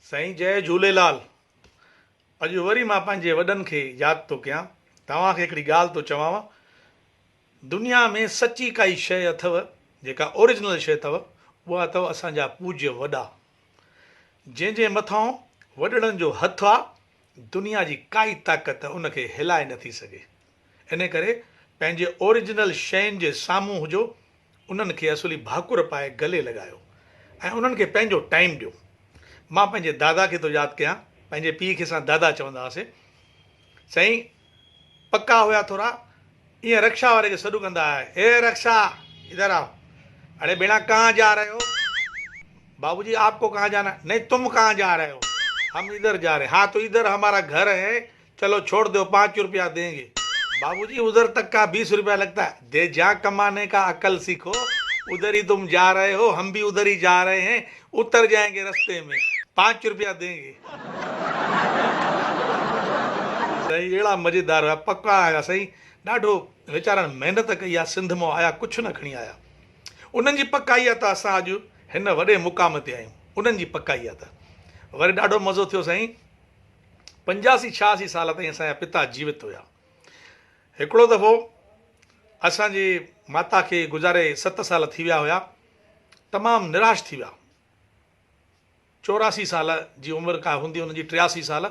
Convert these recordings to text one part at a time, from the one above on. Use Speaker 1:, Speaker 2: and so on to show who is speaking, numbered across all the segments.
Speaker 1: سائين جئي جهوليلال اڄ وري مان پنهنجي وڏن کي ياد ٿو ڪيان توهان کي هڪڙي ڳالهه ٿو چوانو دنيا ۾ سچي ڪائي شئي اٿو جيڪا اوريجنل شئي اٿو اها اٿو اسان جا پوجيه وڏا جنهن جي مٿان وڏڙن جو هٿ آ دنيا جي ڪائي طاقت ان کي هلائي نٿي سگهي. انهيء ڪري پنهنجي اوريجنل شين جي سامهون هجو، انهن کي اصولي ڀاڪر پائي گلي لڳايو ۽ انهن کي پنهنجو ٽائيم ڏيو. مان پنهنجي دادا کي ٿو ياد ڪيان، پنهنجي پيء کي اسان دادا چوندا هئاسين. سائين پڪا هيا ٿورا، ايئن رڪشا واري کي سڏ ڪندا هيا، اي رڪشا ادھر آؤ، اڙي ڀيڻا ڪهان جا رهي هو؟ بابو جي آپ ڪو ڪهان جانا؟ نهين تم ڪهان جا رهي هو؟ هم ادھر جا رهي، ها تو ادھر همارا گهر هي، چلو ڇوڙ دو پانچ روپيا دين گي. بابو جي ادھر تڪ ڪا بيس روپيا لگتا ھي دي جھان ڪماني ڪا عقل سيکو ادھر ھي تم جا رھي ھو ھم بي ادھر ھي جا رھي ھين اتر جائين گي رستي مين پانچ روپيا دين گي. سائين اھڙا مزيدار ھيا پڪا ھيا سائين ڏاڍو ويچارن محنت ڪئي آ سنڌ مئو آيا ڪجھ نه کڻي آيا انھن جي پڪائي آ ته اسان اڄ ھن وڏي مقام تي آھيون انھن جي پڪائي آ ته وري ڏاڍو مزو ٿيو سائين. پنجاسي ڇهاسي سال تائين اسان جا پتا جيوت هيا. هڪڙو دفعو اسان جي ماتا کي گذاري ست سال ٿي ويا هيا. تمام نراش ٿي ويا. چوراسي سال جي عمر ڪا هوندي هن جي ٽياسي سال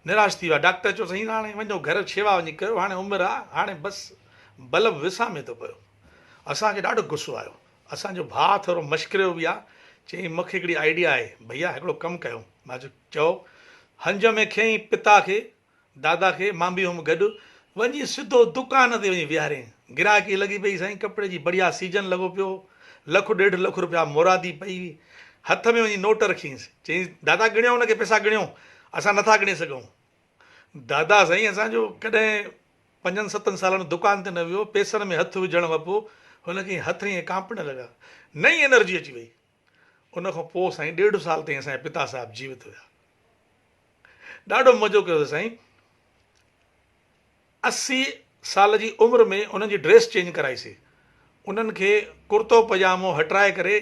Speaker 1: نراش ٿي ويا. ڊاڪٽر چيو سائين هاڻي وڃو گهر شيوا وڃي ڪيو هاڻي عمر آ هاڻي بس بلب وسامي ٿو پيو. اسان کي ڏاڍو غصو آيو. اسان جو ڀاء ٿورو مشڪريو به آ. چيائين مون کي هڪڙي آئيڊيا آهي. ڀئيا هڪڙو ڪم ڪيو. مان چيو. چئو هنج ۾ کنئين پتا کي، دادا کي، مان به هئم گڏ، وڃي سڌو دڪان تي وڃي ويهارين. گراهڪي لڳي پئي سائين، ڪپڙي جي بڙيا سيزن لڳو پيو هو، لک ڏيڍ لک رپيا مرادي پئي هئي، هٿ ۾ وڃي نوٽ رکينس، چينس دادا ڳڻيو ان کي پئسا ڳڻيو، اسان نٿا ڳڻي سگهون. دادا سائين اسان جو ڪڏهن پنجن ستن سالن دڪان تي نه ويو، پئسن ۾ هٿ وجهڻ وپو هن کي هٿ ائين ڪانپڻ لڳا، نئين انرجي اچي وئي، ان کان پوء سائين ڏيڍ سال تائين اسان جا پتا صاحب جيوت هيا. ڏاڍو مزو ڪيو اٿس سائين. اسي سال جي عمر ۾ انهن جي ڊريس چينج ڪرائي سي. انهن کي ڪرتو پجامو هٽرائي ڪري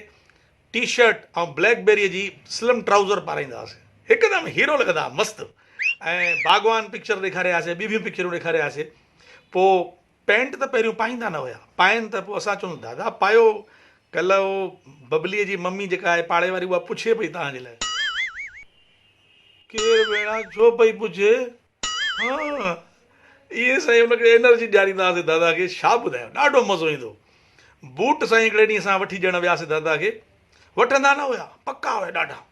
Speaker 1: ٽي شرٽ ۽ بليڪ بيري جي سلم ٽرائوزر پارائيندا هئاسي. هڪدم هيرو لڳندا هئا مست. ۽ باغوان پڪچر ڏيکاري آياسي ٻيون ٻيون پڪچرون ڏيکاري آياسي. پوء پينٽ ته پهريون پائيندا نه هيا. پائين ته پوء اسان چون، دادا پايو. ڪلهه اهو ببليء جي ممي جيڪا آهي پاڙي واري اها پڇي پئي توهان جي لاء. ڪير ڀيڻا ڇو پئي پڇي؟ هان. ائين سائين ان کي انرجي ڏياريندا هئاسين دادا کي ڇا ٻڌايان ڏاڍو مزو ايندو هو. بوٽ سائين هڪڙي ڏينهن اسان وٺي ڏيڻ وياسين دادا کي. وٺندا نه هيا پڪا هيا ڏاڍا.